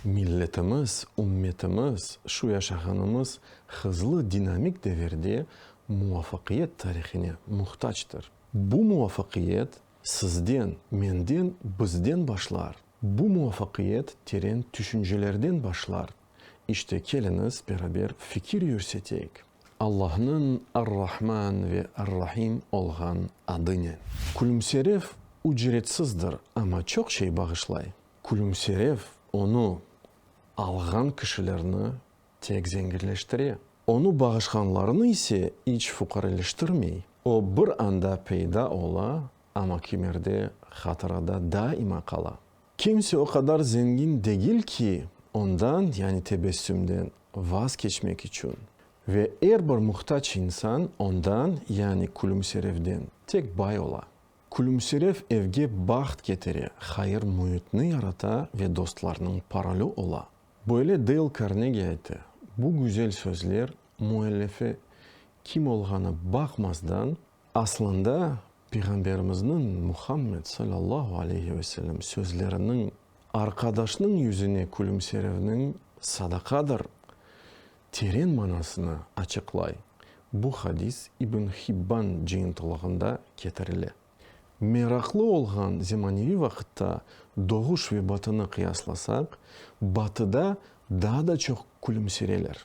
Milletimiz, ümmetimiz, şu yaşağanımız hızlı dinamik devirde muvafaqiyet tarihine muhtactır. Bu muvafaqiyet sizden, menden, bizden başlar. Bu muvafaqiyet teren tüşüncelerden başlar. İşte, keliñiz, beraber fikir yürseteyik, Allahnıñ Ar-Rahman ve Ar-Rahim olğan adı ne? Külümserev ücretsizdir, amma çoq şey bağışlay. Külümserev, onı alğan kişilerni tek zenginleştire, onı bağışğanlarnı ise iç fuqareleştirmey. O, bir anda peyda ola, amma kimerde, hatırada daima qala. Kimse o qadar zengin degil ki, ondan, yani tebessümden, vaz keçmek içün. Ve er bir muhtac insan ondan, yani külümserevden, tek bay ola. Külümserev evge baht ketire, hayır müitni yarata ve dostlarnıñ parolü ola. Böyle Deyl Karnegi ayta, bu güzel sözler müellifi kim olğanı baqmazdan, Aslında, Peyğamberimizniñ, Muhammed salâllahu aleyhi ve sellem, sözleriniñ, Arqadaşnıñ yüzüne külümserevniñ sadaqadır, teren manasını açıqlay. Bu hadis İbn Hibban cıyıntılığında ketirile. Meraqlı olğan zemaneviy vaqıtta doğuş ve batını qıyaslasaq, batıda daa da çoq külümsereler.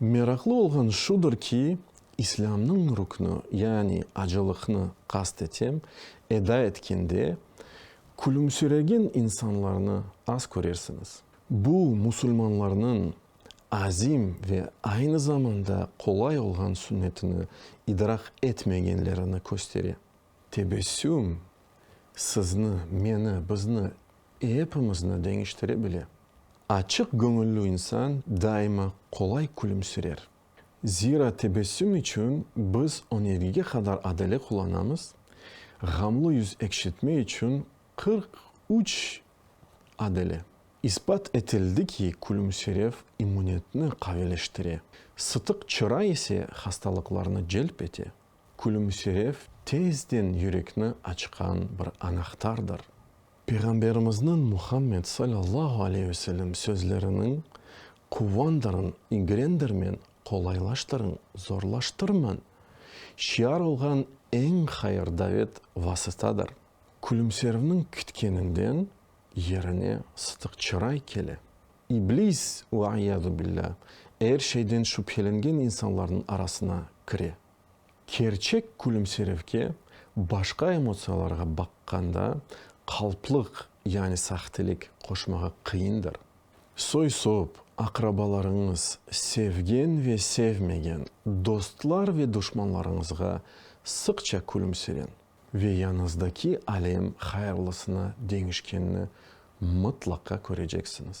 Meraqlı olğan şudır ki, İslâmnıñ rüknü, yani acılıqnı qast etem, eda etkende, külümsiregen insanlarnı az körersiñiz. Bu, musulmanlarnıñ azim ve aynı zamanda qolay olğan sünnetini idrak etmegenlerini köstere. Tebessüm sizni, meni, bizni, epimizni deñiştire bile. Açıq göñüllü insan daima qolay külümsirer. Zira tebessüm içün biz önergege qadar adele qullanamız, ğamlı yüz ekşitme içün qırq üç adele. İsbat etildi ki, külümsirev immunetni qaveleştire, sıtıq çıra ise hastalıqlarnı celp ete. Külümsirev tezden yürekni açqan bir anahtardır. Peyğamberimizniñ Muhammed sallallahu aleyh ve sellem sözleriniñ, Quvandırıñ, igrendirmen, qolaylaştırıñ, zorlaştırmañ, şiar olğan eñ hayır davet vasıtadır. Külümservniñ kütkeninden yerine sıtıq çıray kele. İblis, ve iyâzu billâh, er şeyden şübhelengen insanlarnıñ arasına kire. Kerçek külümserevge, başqa emotsiyalarğa baqqanda, qalplıq, yani sahtelik, qoşmağa qıyındır. Soy-sop, aqrabalarıñız, sevgen ve sevmegen dostlar ve duşmanlarıñızğa sıqça külümsereñ. Ve yañızdaki alem hayırlısına deñişkenini mıtlaqa köreceksiñiz.